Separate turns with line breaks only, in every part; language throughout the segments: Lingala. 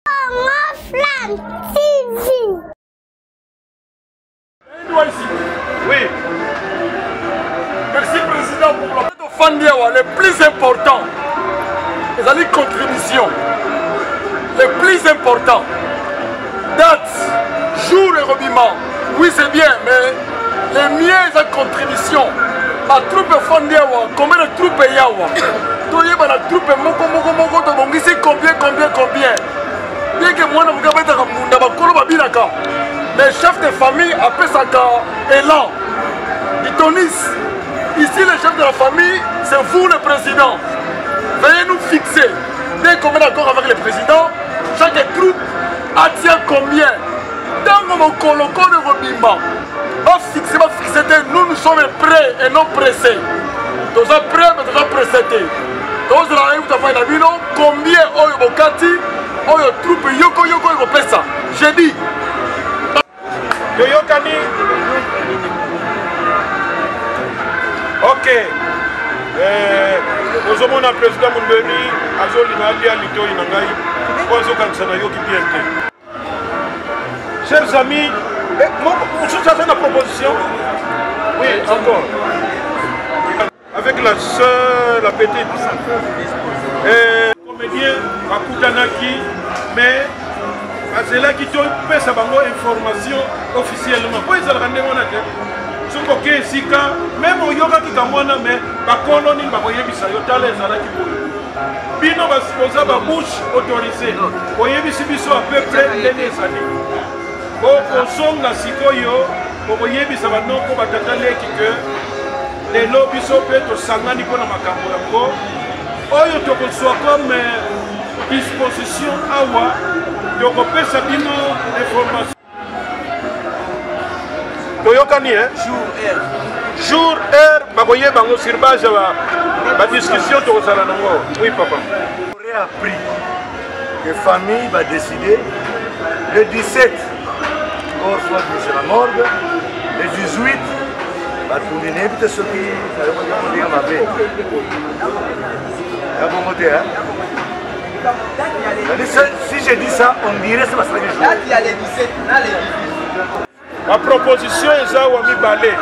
Congo Flam
TV. Oui. Merci président pour la tofandi awa le plus important ezali contribution le plus important date jour ekobima Oui c'est bien mais le mien eza contribution batroupe efandi awa combien de troupe eya awa toyeba na troupe moko moko moko tobongisi combien combien combien bieke mwana moke abetaka mbunda bakolo babinaka mais chef de famille apesaka élan itonis ici le chef de la famille c'est vous le président veuillez nous fixer dès qu'on met d'accord avec le président chaque troupe attient combien ntango mokolo kono ekobimba bafixe bafixe te nous nous sommes prêt et non pressé toza prêt mais toza pressé te tozala nayebi tafai na bino combien oyo bokati oyo troupe yoko yoko ekopesa je dis
toyokani ok eh, ozomona président mondoni azolinga alia litoi na ngai mpo azokanisa nayoki bien te Chers amis, eh, mosusu aza na proposition Oui, encore. Avec la soeur, la petite. Et... Comédien, Bakutanaki, mais azelaki topesa bango information officiellement mpo ezalaka ndenge wana te soki oke esika meme oyokaki kango wana me bakolo nini bakoyebisa yo tala ezalaki boye bino boza babouche autorise oyebisi biso à peu près ndenge ezali okozonga sikoyo okoyebisa banoko batata leki ke lelo biso mpe tosangani mpo na makambo yango oyo tokozwa comme disposition awa tokopesa bino information toyokani eh? jour heure bakoyeba yango sur base ya badiscussion tokozala nango oui papa appris
que famille va décider le 17 corps soit mise la morgue le 18 batuni nayebi te soki nayokoki kolinga mabe ya bongo te Si je dis ça, on dirait c'est parce que je Date, il y a les 17, on a les 18.
Ma proposition est ça, Wami Balé.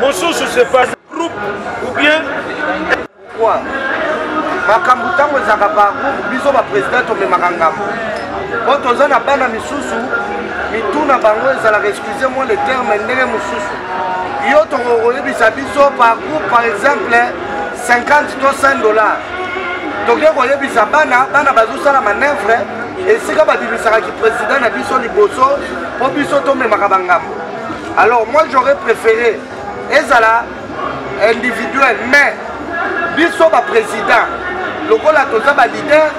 Mon sous, c'est pas groupe ou bien. Quoi
makambo ntango ezalaka bagroupe biso baprésident tomemaka ngambo mpo toza na bana misusu mitu na bango ezalaka excuse moi le terme ndenge mosusu yo tokoyebisa biso par groupe par exemple 50 to 100 dollars toke koyebisa bana bana bazosala manevre esika babimisaka kipresident na biso liboso mpo biso tomemaka bangambo alors moi j'aurais préféré ezala individuel mais biso baprésident lokola toza balider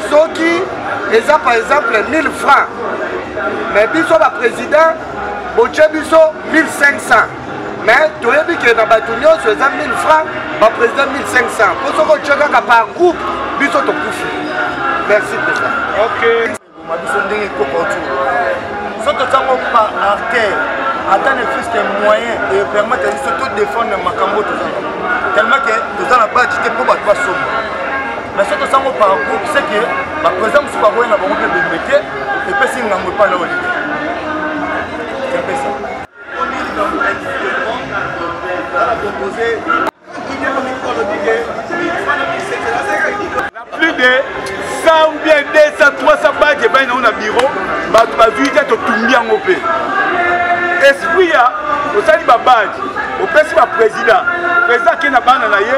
soki eza par exemple 1000 francs mais biso baprésident botie biso 1500 mais toyebi ke na bato nyonso eza 1000 franc baprésident 1500 mpo soki otye kaka par groupe biso tokufi merci président okay.
biso ndenge ekokautu
so totango par artère ata ne fils que moyen epermettre ya biso todefendre makambo toza tellement ke toza na baji te mpo bato basomba mais so tosango par groupe c'est que baprésident mosusu bakoya na bango mpe bembe te epesi ngambo epai na olide
plus de 100 ou bien 200 300 bage epai nango na biro bato bazwi te totumbi yango mpe esprit ya osali babage opesi baprésident président ake na bana na ye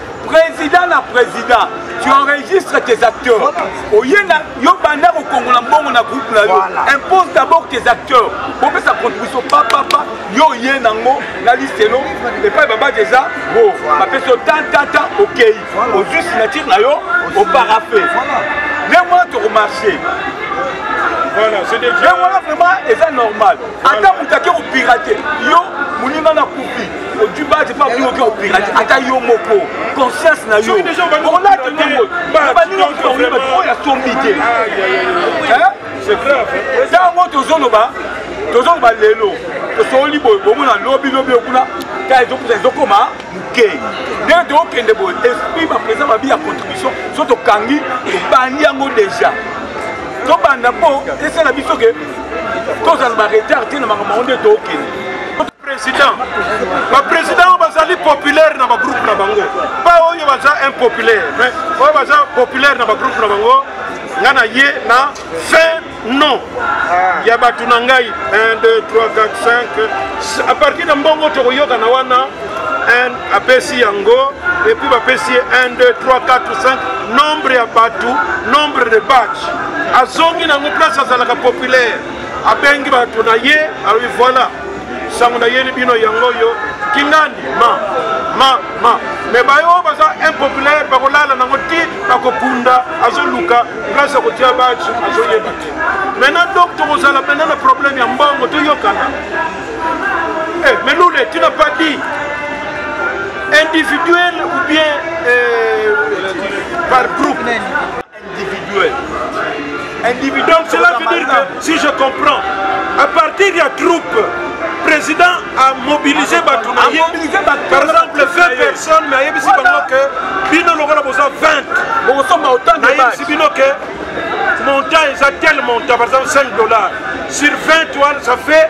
Président na président, tu enregistres tes acteurs. Oye na yo banda ko kongo na mbongo na groupe na yo. Impose d'abord tes acteurs. Bon mais sa contribution pa pa pa yo ye na ngo na liste no et pas baba déjà bon ba peso tant tant tant OK. Au juste signature na yo au paraphe. Les mois tu marché. Voilà,
c'est déjà. Mais voilà vraiment et
ça normal. Attends, vous t'as pirate. Yo, mouninga na koupi. ojibati mpe abinoki opirati ata yo moko conscience na yo olati nongo baninga moto oyo oyo asombi te
ntango tozoloba
tozoloba lelo tosoli boye bomona lobi lobi okuna ta ezokuta ezokoma moke ndenge tokokende boye esprit baprésa babi ya contribution so tokangi tobandi yango déjà tobanda mpo esala biso ke tozala baretard te na makambo yango nde tokende president bapresident
oyo bazali populaire na bagroupe na bango ba oyo baza impopulaire mais oyo baza populaire na bagroupe na bango nga na ye na fin non ah. ya bato na ngai 1 2 3 4 5 a partir na mbongo tokoyokana wana apesi yango epuis bapesi ye 1 2 3 4 5 nombre ya bato nombre de batch azongi nango place azalaka populaire abengi bato na ye alobi voilà sango nayeli bino yango oyo kingandi ma ma ma me baye oyo baza impopulaire bakolala nango ti bakokunda azoluka place ya kotia bati azoyeba te maintenant donc tokozala mpena na problème ya mbongo toyokana eh, melule tu n'as pas dit individuel ou bien euh, par groupe individuel individuel donc cela veut dire que si je comprends à partir ya troupe président a mobilisé bato na ye par exemple 20 personnes mais ayebisi bango ke bino lokola boza 20 nayebisi bino ke montant eza tel montant par exemple 5 dollars sur 20 toile ça fait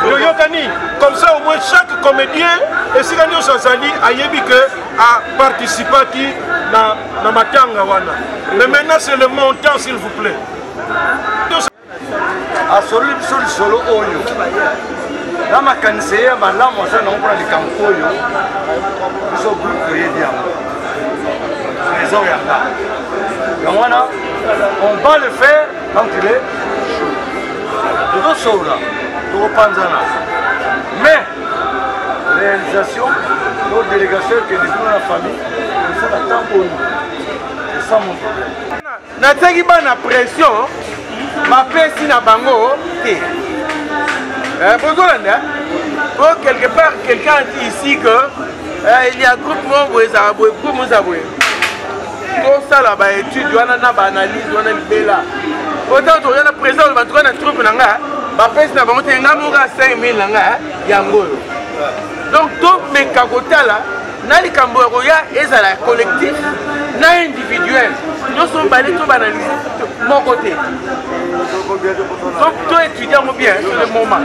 toyokani comme ça au moins chaque comédien esika nyonso azali ayebi ke aparticipaki na, na matanga wana mais maintenant c'est le montant s'il vous plaît
asololi biso lisolo oyo na makanisi ye ya malamu aza nango mpona likambo oyo biso groupe toyebi yango trésor yanga yango wana on va le faire bankele tozosolola tokopanzana mais réalisation to délégation ekende kuna na famille osala ntango oyo esa mon problème natiaki bana
pression bapesi na bango te eh, bozolanda po quelque part quelqu'un dit ici que eh, il y a groupe moko boye ezala boye groupe moko eza boye tosala ba étude wana na ba analyse wana libela ota toya na président oyo batuka na troupe na nga bapesi na bango te nga moko 5000 na nga yango oyo donc tomeka kotala na likambo ya koya ezala collectif na individuel nyonso mibale tobanalise moko te toetudia yango bien sur le moment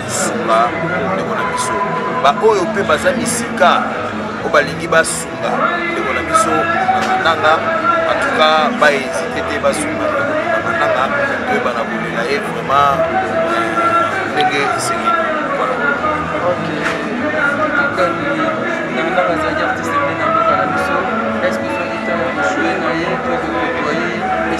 sunga ndeko na biso baoyo mpe baza misika oyo balingi basunga ndeko na biso mananga antuka baezite te basunga ndeko na mananga toyebana kolela ye vraiment euh, ndenge
esengeli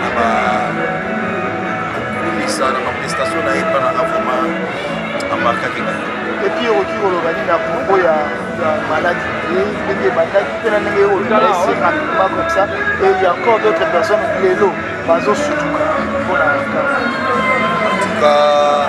na ba kumisa na manifestation na ye mpa na nga vraiment amarkaki ngai epuis okoki
koloba nini na propos ya maladi ndenge ebandaki mpe na ndenge olesi rapidement comme ça et il y a encore d'autres personnes lelo bazosutuka mpo na cas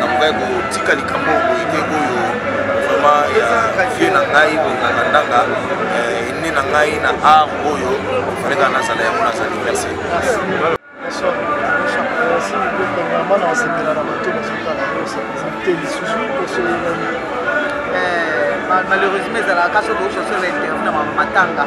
nakokaki kotika likambo boye te oyo vraiment ya vie na ngai boye na landanga ene na ngai na art oyo faleka nazala yango nazali merci bana basepela na bato bazotala
te lisusu osoyelani malheureusement ezalaka kasi okoki kosala interview na matanga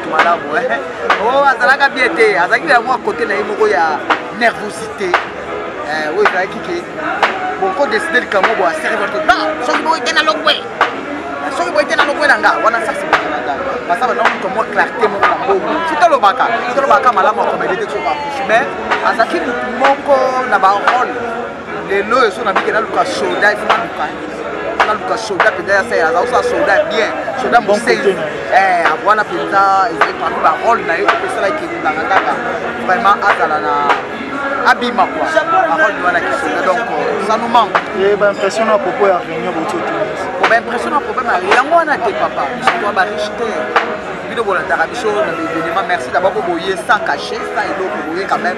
malamu eh. oh, azalaka bie te azalaki na mwa kote na ye moko ya nervosité eh, oyo ezalaki ke boko deside likambo bo aservate na soki boye te na lokwe eh, soki boye te na lokwe na nga wana sasi basa bana moto mwa clarté moko na bongo soki tolobaka tolobaka malamu akomede te soki bakushi mais azalaki motu moko na barole lelo oyo so nabike naluka soda ifo naluka naluka soda mpenza ya sala azausa soda bien soda mosei eh, wana mpenza ezali parmi barole na ye opesala ekendaka kaka vraiment azala na abima kua barole wana kisoda donc euh, ça nous manque eh, baimpression na
propos ya réunion botiotuni oh, baimpression na
problème yango wana te papa bisoa bariche te bino bolandaka biso na baevenema merci dabord boye sans cache sans eloko boye quand même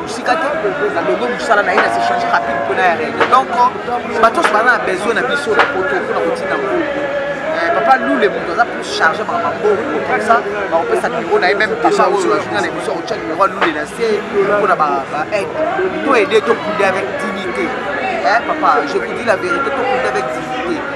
mosika te na longo mosala na ye na s'échange rapide mpona ya règle donc bato nyonso baza na besoin na biso na poto mpona kotinda mbongo eh, papa lule moto aza plus charge maka mambongo comme ça bakopesa numéro na ye meme papa oyo azonga na biso akotya numéro ya lule na se mpona baaide to aide tokunde avec dignité eh, papa je vous dis la vérité tokunde avec dignité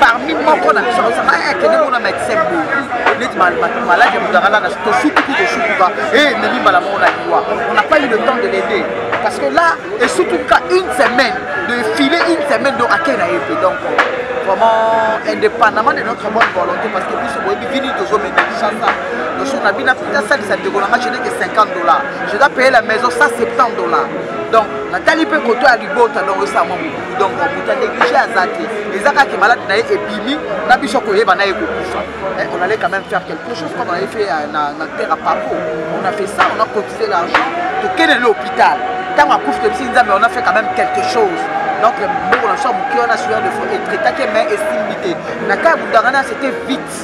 parmi moko na biso ozaka akende mona medecin boye neti maladi ya moto akalaka tosutuki tosutuka ememi mbala moko na liwa on n'a pas eu le temps de l'aider parce que là esutuka une semaine de filer une semaine donc akei na ye mpe donc vraiment indépendamment de notre bonne volonté parce que biso boyebi vini tozomema chasa notion na bino apita asalisa ndeko nanga je neke 50 dollars je dois payer la maison 170 dollars donc natali mpe koto ya libota donc esango donc moto ya néglige aza te eza kaka ke malade na ye ebimi na biso koyeba na ye kokufa eh, on allait quand même faire quelque chose comme on avait fait euh, na, na terre à papo on a fait ça on a cotisé l'argent tokende na hôpital ntango akufi tebisi nzambe on a fait quand même quelque chose donc mbongo na biso ya moke wana suya de fond etraitaki mai esimbi te na kai ya bundangana c'était vite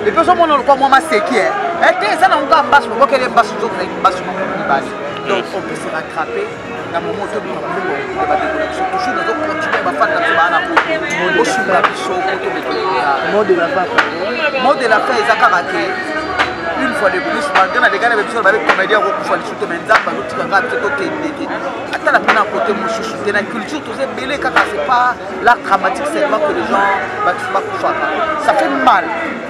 epe ozomona lokwa mwa maseki eh. eh, te eza na ngo kaka mbasi mobokele mbasi nzoto na mbasi moko mibale donc on peut se rattraper na momo tobima mbongo ya bandeko na biso toujours nazo continue bafani na biso baa na poto bosunga biso poto
bekeaa mot de la fin mot de la
fin eza kaka te une fois de plus malgré na degane ba biso babe comédien akokufa lisusu te mais nzambe azotika kaka biso tokendeke ata na mpena kote mosusu te na culture toza ebele kaka c'est pas l'art dramatique seulement que les gens bakufaka ça fait mal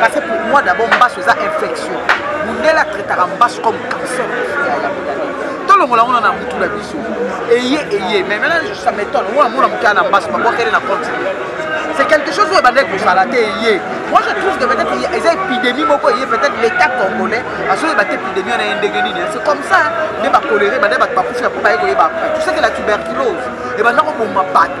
parce que pour moi d'abord mbasu eza infection mundele atraitaka mbasu comme cancer tolongola yango na mutu na biso eye eye mais maintenant ça m'étonne oyo amona moke ya na mbasu babwakeli na compte c'est quelque chose oyo ebandaki kozala te eye moi je trouve que peut-être eza épidémie moko eye peut-être l'état congolais azoyeba te épidémie wana ye ndenge nini c'est comme ça nde bakolere bande bato bakufi ya mpo baye koyeba après tu sais que la tuberculose ebanda koboma bato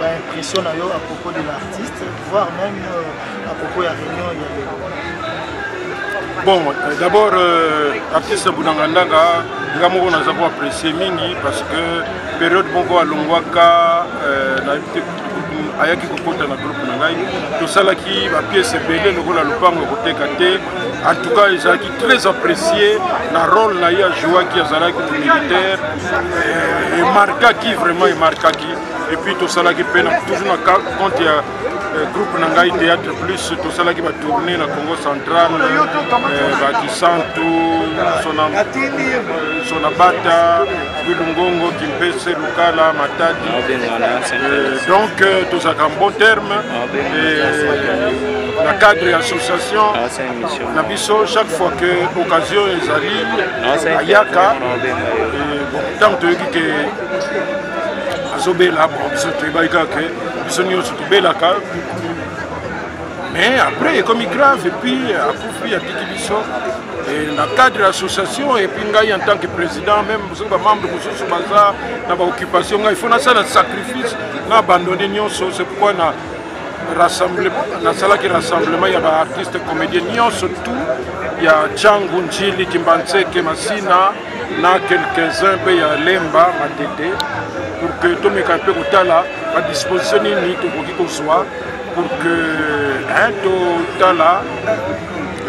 ba impression na yo à propos de l'artiste voire même euh, à propos ya réunion ya lelo
bon euh, d'abord euh, artiste bunanga ndanga nga moko naza ko apprécier mingi parce que période moko alongwaka euh, na ayaki kokota na groupe na ngai tosalaki bapiese ebele lokola lopango ya koteka te en tout cas ezalaki très apprécié na role na ye ajouaki azalaki militaire euh, emarkaki vraiment emarkaki epuis tosalaki mpe toujours na compte ya euh, groupe na ngai théâtre plus tosalaki batourne na congo central euh, bakisantu sonabata bilungongo kimpese lukala matadi donc tozalaka en bon terme na cadre ya association ah, na biso chaque fois que occasion ezali ayaka ntango toyoki ke azobela bon biso toyebaki kaka ke biso nyonso tobelaka mais après ekomi grave epuis akufi atiki biso na cadre ya association epuis ngai en tant que président même soki bamembre mosusu baza na baoccupation ngai il faut nasala sacrifice na abandonne nyonso c'est pourquoi na nasalaki rassemblement ya baartiste comédien nyonso tout ya cangu njili kimbanseke masina na quelques-uns mpe ya lemba matete pour que tomeka mpe kotala badisposition nini tokoki kozwa pour que totala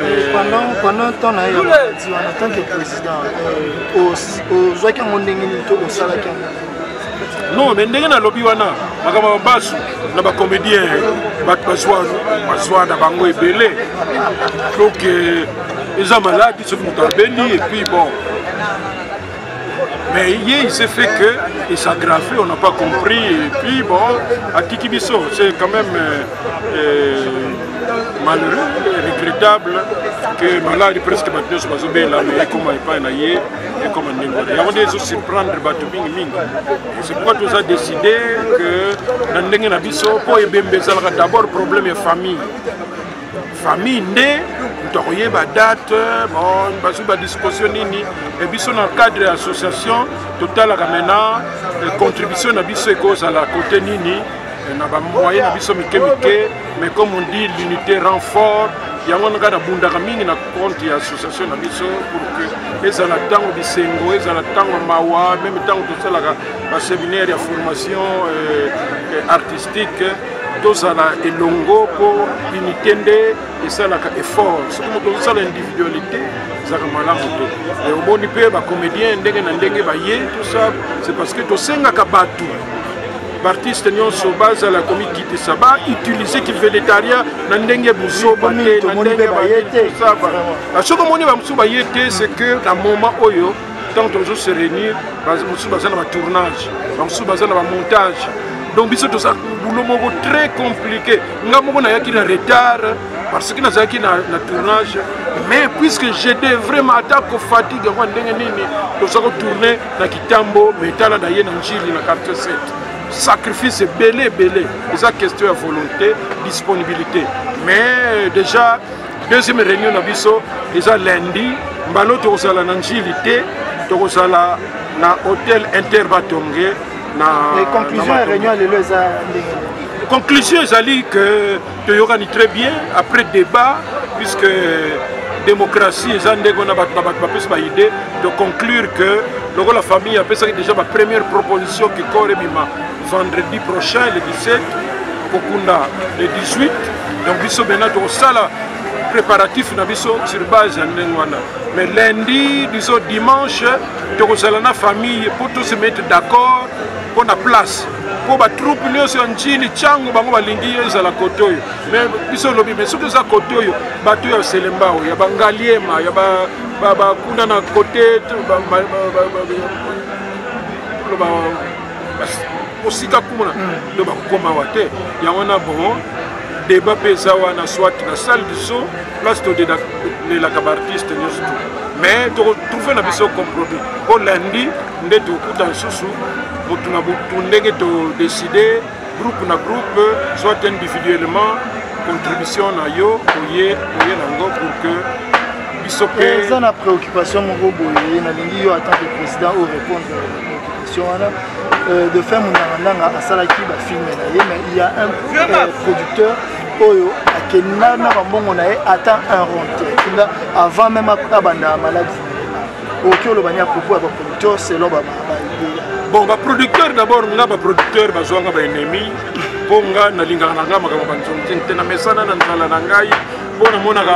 eh,
pendant pendant temps na ye en tant que président euh, ozwaki yango ndenge nini to osalaki yango non
me ndenge nalobi wana makambo ya basu na bacomédien bato bazwa na bango ebele donc euh, eza maladi soki moto abeli epuis bon mais ye il s'est fait que il s'aggrave on n'a pas compris epuis bon atiki biso c'est quand même euh, euh, malheureux regrettable que maladi presque bato nyonso bazobela mais ekoma epai na ye ekoma ndenge wana yango nde ezo surprendre bato mingi mingi c'est pourquoi toza décide que na ndenge na biso mpo ebembe ezalaka d'abord problème ya famille famille nde moto akoyeba date bon bazwi badisposition nini e biso na cadre ya association totalaka maintenant contribution na biso ekozala kote nini na bamoye na biso mike mike mais comme on dit l'unité rend fort yango wana kaka nabundaka mingi na compte ya association na biso pour que ezala ntango bisengo ezala ntango mawa meme ntango tosalaka baseminaire ya formation euh, euh, artistique tozala elongo mpo unité nde esalaka effort soki moto ozosala individualité ezalaka malamu te e omoni mpe bacomédien ndenge na ndenge baye tout ça c'est parce que tosengaka bato baartiste nyonso bazala komikitisa bautilize kivedetaria na ndenge buzoba te na ndenge bayetisaba ah, soki omoni bamosusu baye te ce que na moment oyo ntango tozo se réunir mosusu baza na batournage bamosusu baza na bamontage donc biso toza boulot moko très compliqué nga moko nayaki na retard parce que nazalaki na, na tournage mais puisque j'étais vraiment ata kofatigue yango ndenge nini toza kotourne na kitambo me tala na ye na njili na quartier 7 sacrifice ebele ebele eza question ya volonté disponibilité mais déjà deuxième réunion na biso eza lundi mbalo tokozala na njili te tokozala na hôtel interbatonge na
conclusion ya réunion lelo eza ndenge
conclusion ezali que toyokani très bien après débat puisque euh, démocratie eza ndenge wana bato na bato bapesi baide de conclure que lokola famille apesaki déjà bapremière proposition kikor ebima vendredi prochain le 17 kokunda le 18 donc biso bena tokosala préparatif na biso sur base ya ndenge wana mais lundi disons dimanche tokozala na famille mpo tose mettre d'accord mpo na place mpo batroupe nyonso ya njili ntango bango balingi yo ezala kote oyo me biso olobi me soki eza kote oyo bato ya selembao ya bangaliema ya bakuna na kote mosika kuna nde bakokoma wa te yango na bon débat mpe eza wana soit na salle du son place tolelaka baartiste nyonso mais tokotrouve na biso compromis mpo lundi nde tokuta nsusu motu na motu ndenge todeside groupe na groupe soit individuellement contribution na yo oye oye nango pour que biso mpe eh, eza na préoccupation
moko boye nalingi yo atant que président o répondre préoccupation wana euh, de fin monangandanga asalaki bafilme na ye mais il y a un euh, producteur oyo akenda na bambongo na ye ata un ronte avant même abanda maladi okoki oloba ni apropos ya baproducteur selon bon
baproducteur d'abord nga baproducteur bazwanga baennemi mpo nga nalingaka na nga makambo banzonzing te namesana na nzala na ngai mpo namonaka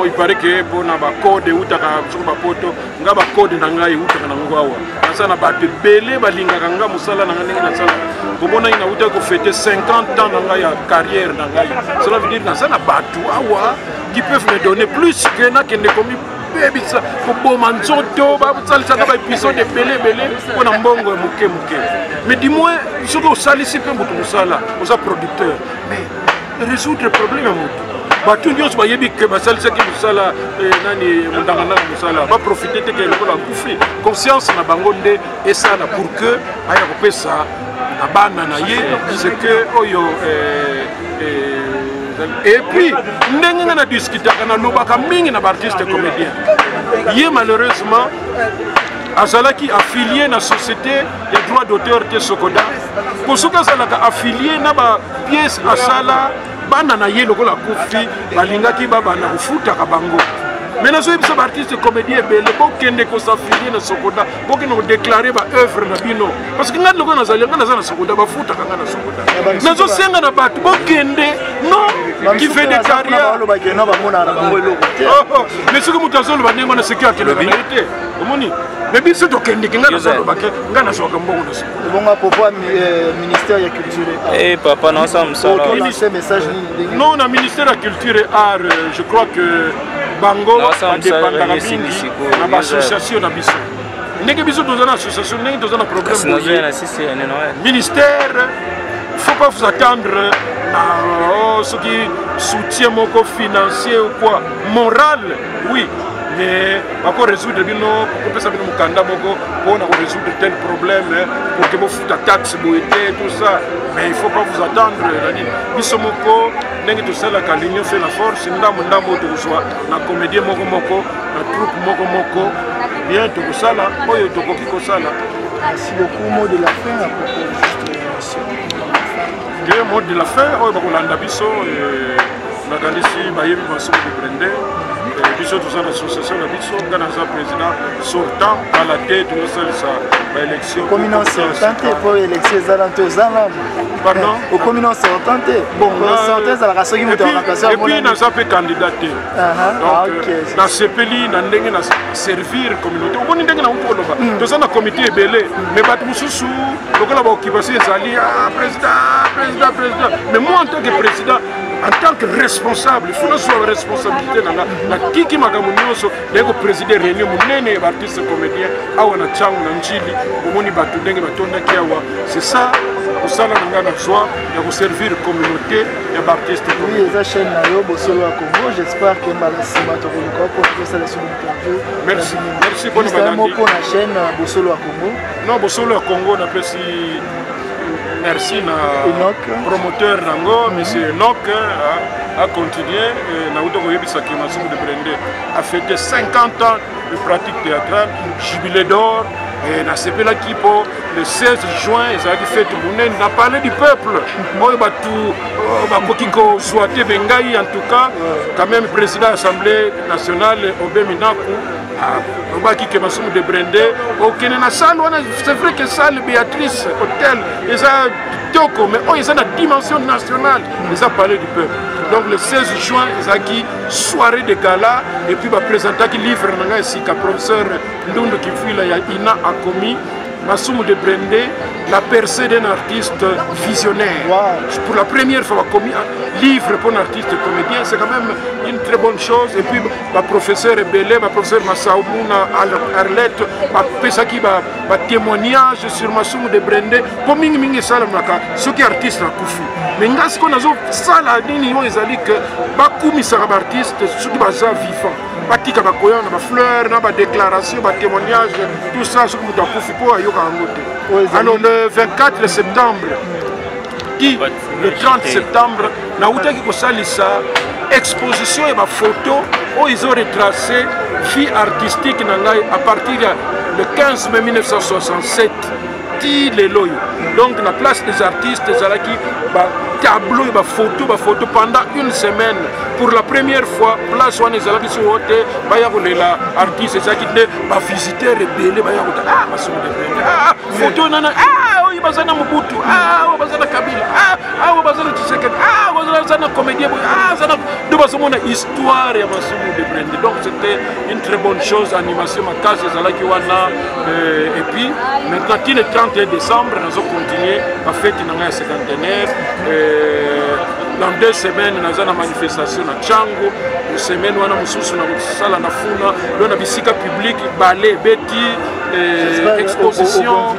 ipare ke mpo na bacode eutaka soko bapoto nga bacode na ngai eutaka na ngo awa naza na bato ebele balingaka nga mosala na ngai ndenge nasala komonaki nauta kofete 50 ans na ngai ya carrière na ngai cela veut dire naza na bato awa qui peuvent me donner plus que nakende komi kobebisa koboma nzoto basalisaka baepisode ebele ebele mpo na mbongo ya moke moke mais du moins soki osalisi mpe moto mosala oza producteur mais résoudre problème ya moto bato nyonso bayebi ke basalisaki mosala eh, nani mondangandanga mosala baprofite te ke lokola akufi conscience na bango nde esala pour que aya kopesa na bana na ye ce que oyo eh, et puis ndenge nga na discutaka nalobaka mingi na baartiste comédien ye malheureusement azalaki affilie na société ya droit d'auteur te sokoda mpo soki azalaka affilie na bapiese asala bana na ye lokola kufi balingaki babanda kofutaka bango me nazoyebisa baartiste comédien ebele bokende kosafilie na sokoda bokende kodeklare baoeuvre na bino parce que ngai loko nazali ngai naza na sokoda bafutaka ngai na sokoda nazosenga na bato bokende no mais soki moto azoloba ndenge wana seki akelaka na ye te omoni mais biso tokendeki ngai nazolobake ngai nazwaka mbongo na
sokobonga popo eh, ministère ya culture e papa naosala
mosala
non na ministère ya culture et art euh, je crois que bango badepandaka mingi na baassociation na biso ndenge biso toza na association ndenge toza na problème ministère faut pas vous attendre na oh, soki soutien moko financier ou quoi moral oui mais bako résoudre bino kopesa bino mokanda moko mpona korésoudre tel problème pour que bofuta taxe boye te tout ça mais il faut pas vous attendre na nini biso moko ndenge tosalaka l'union fait la force ndambo ndambo oyo tokozwa na comédien moko moko na troupe moko moko bien tokosala oyo tokoki kosala merci
beaucoup mot de la fin à propos de juste émission te mot de la fin
oyo bakolanda biso euh, nakanisi bayebi masoko de brende euh, biso toza na association na biso ngai naza président sortant kala te tozosalisa baélection okomi na sortant te
mpo élection eza na te oza nano
eh, okomi na
sortant te sortant
ezalaka soki moto
aepuis naza mpe
candidat te ah, euh, nasepeli na ndenge na servir communauté omoni ndenge na uti koloba hmm. toza na comité ebele mais bato mosusu lokola baoccupation ezali ah, président président président mais moi en tant que président en tant que responsable il faut nazwa responsabilité na nga natiki makambo nyonso naye kopreside réunion monene ya baartiste comédien awa na ntango na njili omoni bato ndenge batondaki awa c'est ça kosala na ngai nazwa ya koservir communauté ya baartiste oui eza chaîne na
yo bosolo ya congo j'espère ke mbala nsima tokoluka mpo tosala sur interview merci merci
mpo na banangi moko na chaîne
bosolo ya congo non bosolo ya congo
napesi merci na promoteur nango monsieur enok acontinue nauti koyebisa ke masumu de brende afete 50 ans de pratique théâtrale jubilé d'or nasepelaki mpo le 16 juin ezalaki fete monene na palais du peuple oyo bato euh, bakoki kozwa te bengai en tout cas quand même président assemblée nationale obe minaku alobaki ke masumu de brende okende na salle wana c'est vrai que salle béatrice hôtel eza kitoko mais oyo eza na dimension nationale eza palais du peuple donc le 16 juin ezalaki soirée de gala et puis bapresentaki livre na ngai esika professeur ndundu kifuila ya ina akomi Massoumou de Brendé, la percée d'un artiste visionnaire. Wow. Pour la première fois, commis un livre pour un artiste comédien, c'est quand même une très bonne chose. Et puis, baprofesseur ebele baprofesseur masabu na arlette bapesaki batémoignage ba sur masumu de brende mpo mingimingi esalamaka soki artiste akufi mais ngai sikoyo nazosala nini oyo ezali ke bakumisaka baartiste soki baza vivant batika bakoya na bafleur na badéclaration batémoignage tout ça soki moto akufi mpo ayoka yango te alors le 24 septembre le 30 septembre nautaki kosalisa exposition ya bafoto oyo izo retrace vie artistique na ngai à partir ya le 15 mai 1967 ti lelo oyo donc na place des artistes ezalaki batableau ya bafoto bafoto pendant une semaine pour la première fois place wana ezalaki soo te baya kolela artiste ezalaki nde bavisiteur ebele baya kotala ah, basonga ebele ah, ah. foto nana ah, oyo baza na mobutu ah, oyo baza na kabila ah, oyo baza na tshisekedi aza na comédien boye aza na nde bazomona histoire ya masumu de brende donc c'était une très bonne chose animation makasi ezalaki wana euh, et puis maintenant ti le 31 décembre nazo continue bafeti na ngai ya cinquantenaire euh, dans deux semaines naza na manifestation na chango semaine wana mosusu na kosala na funa lo na bisika publike bale beti eh, exposition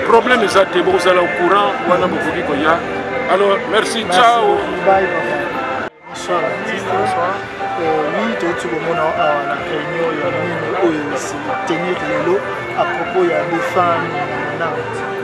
problème eza te bokozala au courant wana bokoki koya alors merci ciao bonsoir
bonsoir mingi touti komona awa na réunion ya mino oyo etenir lelo à propos ya defame na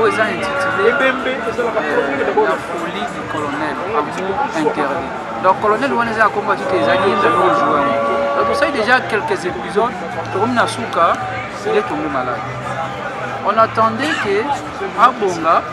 oyo eza intitulé la folie du colonel amour interdit donc colonel wana eza ya kombo atite ezali ye nzali ozwa yango donc tosali déjà quelques épisodes tokomi na suka sile tongo malade on attendait que abonga